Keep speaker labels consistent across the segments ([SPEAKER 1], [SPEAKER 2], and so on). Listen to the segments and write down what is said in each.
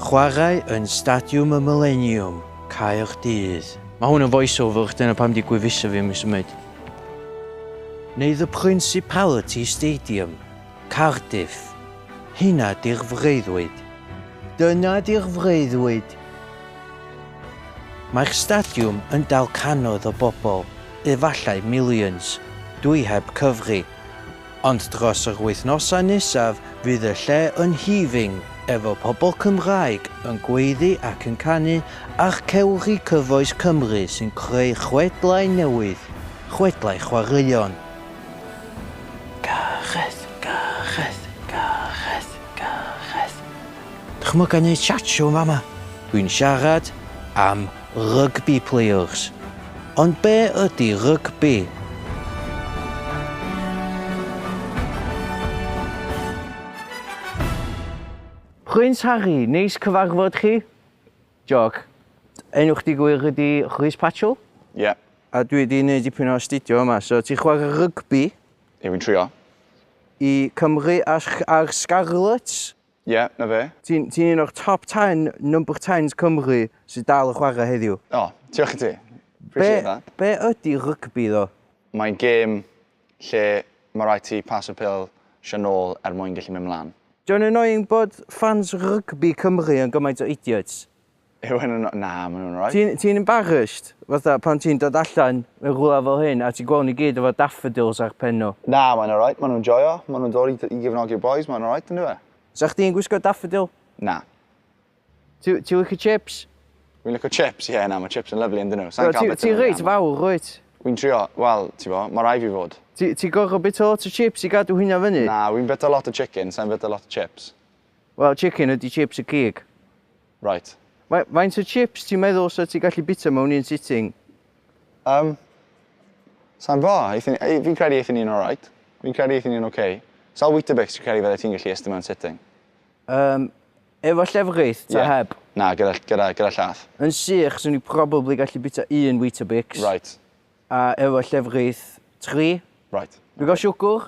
[SPEAKER 1] Chwarae yn Stadiwm y Mileniwm, Caerdydd. Mae hwn yn voice over, dyna pam di gwefusau fi ddim yn symud. Neu The Principality Stadium, Cardiff. Hynna di'r freuddwyd. Dyna di'r freuddwyd. Mae'r stadiwm yn dal canoedd o bobl, efallai millions, dwi heb cyfri. Ond dros yr wythnosau nesaf fydd y lle yn heaving efo pobl Cymraeg yn gweiddi ac yn canu ar cewri cyfoes Cymru sy'n creu chwedlau newydd, chwedlau chwaraeon. Gareth, Gareth, Gareth, Gareth. Dychmyga neud siatsio yn fama! Dwi'n siarad am Rygbi players. Ond be ydi rygbi? Prince Harry, neis cyfarfod chi. Joc. Enw chdi gwir ydi Rhys Patchell? Ie. A
[SPEAKER 2] dwi wedi neud
[SPEAKER 1] dipyn o astudio yma, so ti'n chwarae rygbi? Ie fi'n trio.
[SPEAKER 2] I
[SPEAKER 1] Cymru a'r Scarlets? Ie, 'na fe.
[SPEAKER 2] Ti'n ti'n un o'r top
[SPEAKER 1] ten number tens Cymru sydd dal yn chwarae heddiw. O, diolch i ti.
[SPEAKER 2] Appreciate that. Be ydy rygbi
[SPEAKER 1] ddo? Mae'n gêm
[SPEAKER 2] lle mae rhaid ti paso'r pêl sio nôl er mwyn gallu mynd mlaen. Dio'n annoying bod
[SPEAKER 1] fans rygbi Cymru yn gymaint o idiots? Yw hyn yn...
[SPEAKER 2] Na, maen nhw'n alright. Ti'n ti embarrassed?
[SPEAKER 1] Fatha pan ti'n dod allan mewn rhywle fel hyn a ti'n gweld nhw gyd efo daffodils ar pen nhw? Na, mae'n alright, maen nhw'n
[SPEAKER 2] joio, maen nhw'n dod i, i gefnogi'r bois, mae'n alright yn dyfe? Sa chdi'n gwisgo
[SPEAKER 1] daffodil? Na. Ti, ti licio chips? Fi'n licio chips,
[SPEAKER 2] ie, yeah, na, mae chips yn lyflu yn dyn nhw. Ti'n ti reit fawr,
[SPEAKER 1] rwyt? Fi'n trio, wel,
[SPEAKER 2] ti bo, mae rai fi fod. Ti, ti gorfod bita
[SPEAKER 1] lot o chips i gadw hynna fyny? Na, fi'n bita lot o
[SPEAKER 2] chicken, sa'n bita lot o chips. Wel, chicken
[SPEAKER 1] ydy chips y cig. Right.
[SPEAKER 2] Faint o
[SPEAKER 1] chips ti'n meddwl sa ti gallu bita mewn un sitting? Yym.
[SPEAKER 2] Sa'n bo. Fi'n credu eitha ni'n alright. Fi'n credu eitha ni'n ok. Sawl Weetabix ti'n credu fydde ti'n gallu ystum mewn sitting? Yym.
[SPEAKER 1] Efo llefrith ta heb? Na, gyda, gyda,
[SPEAKER 2] gyda llath. Yn sych, swn i
[SPEAKER 1] probably gallu bita un Weetabix. Right. A
[SPEAKER 2] efo
[SPEAKER 1] llefrith, tri. Right. Digon
[SPEAKER 2] siwgwr?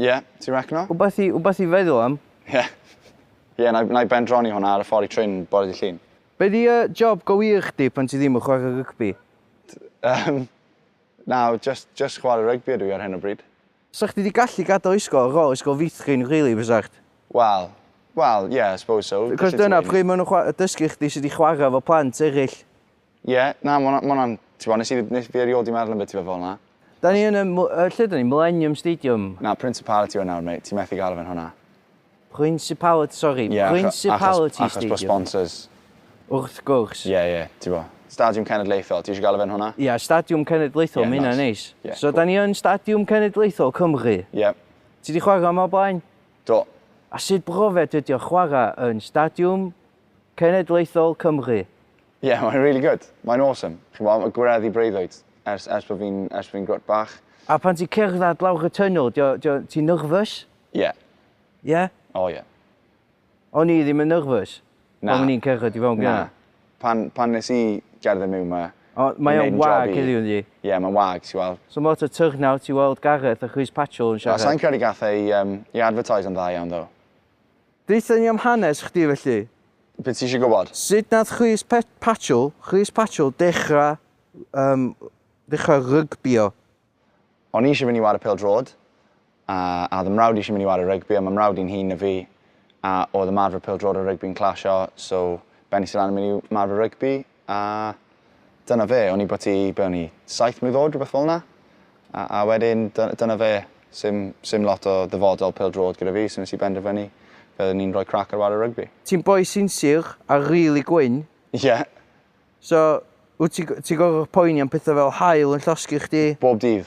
[SPEAKER 1] Ie, ti'n
[SPEAKER 2] recno? Wbath i, wbath i feddwl
[SPEAKER 1] am.
[SPEAKER 2] Ie. Ie, na i, na i bendroni hwnna ar y ffordd i trin bore dy Llun. Be di uh,
[SPEAKER 1] job go wir chdi pan ti ddim yn chwarae rygbi? Um,
[SPEAKER 2] na, just, just chwarae rygbi ydw i ar hyn o bryd. Sa chdi di gallu
[SPEAKER 1] gadael ysgol ar ôl ysgol feithrin really fysa chdi? Wel,
[SPEAKER 2] wel, ie, yeah, I suppose so. Cos dyna pryd maen
[SPEAKER 1] nhw'n dysgu chdi sut i chwarae fo plant eraill. Ie, na,
[SPEAKER 2] ma' hwnna- ma' hwnna'n... T'bo' nes i dd- nes fi erio'd 'di meddwl am beth ti fe- fel 'na. Da ni yn y mw-
[SPEAKER 1] yy lle da ni? Millennium Stadium? Na, Principality yw e
[SPEAKER 2] nawr mate, ti methu galw fe'n hwnna. Principality,
[SPEAKER 1] sori, Ie, acho- achos, Principality achos bod Stadium. sponsors.
[SPEAKER 2] Wrth
[SPEAKER 1] gwrs. Ie, ie, t'bo'.
[SPEAKER 2] Stadiwm Cenedlaethol, ti isio galw fe'n hwnna? Ie, Stadiwm Cenedlaethol,
[SPEAKER 1] Ie, ma' hynna'n nice. neis. Ie, So, cŵl. da ni yn Stadiwm Cenedlaethol Cymru. Ie. Ti 'di
[SPEAKER 2] chwarae yma
[SPEAKER 1] o'r blaen? Do.
[SPEAKER 2] A sut
[SPEAKER 1] brofiad ydi o chwarae yn Stadiwm Cenedlaethol Cymru? Ie, mae'n really
[SPEAKER 2] good. Mae'n awesome. Chi'n gwybod, mae gwireddu breuddwyd ers, ers bod fi'n ers fi grwt bach. A pan ti'n cerdded
[SPEAKER 1] lawr y tunnel, ti'n nyrfys? Ie. Yeah.
[SPEAKER 2] Ie?
[SPEAKER 1] Yeah? O oh, ie.
[SPEAKER 2] Yeah.
[SPEAKER 1] O'n i ddim yn nyrfys? Na. O'n i'n cerdded
[SPEAKER 2] i fewn gyda?
[SPEAKER 1] Na. Pan, pan nes
[SPEAKER 2] i gerdded mewn yma... O, mae o'n wag
[SPEAKER 1] heddiw ynddi? Ie, yeah, mae'n wag, ti'n weld.
[SPEAKER 2] So mae lot o turnout
[SPEAKER 1] i weld Gareth a Chris Patchell yn siarad. Sa'n credu gath ei, um,
[SPEAKER 2] i advertise yn dda iawn, ddo. Deutha
[SPEAKER 1] ni am hanes chdi felly. Be ti isio
[SPEAKER 2] gwybod? Sut nath Chris
[SPEAKER 1] Patchell, Chris Patchell dechra um, dechra rygbio? O'n
[SPEAKER 2] i eisiau fynd i wario pêl drod, a, a oedd y mrawd eisiau mynd i wario rygbi, a mae mrawd i'n hun na fi, a oedd y marfer pêl drod a rygbi'n clasio, so bennis i lan yn mynd i marfer rygbi, A dyna fe, o'n i byti, be o'n i, saith mlwydd oed, rhywbeth fel 'na. A a wedyn dy- dyna fe, sim sim lot o ddyfodol pêl-droed gyda fi, so nes i benderfynu fyddwn i'n rhoi crac ar ware rygbi. Ti'n boi sinsir a rili gwyn. Ie. So,
[SPEAKER 1] wt ti ti'n gorfod poeni am petha fel haul yn llosgi chdi? Bob dydd.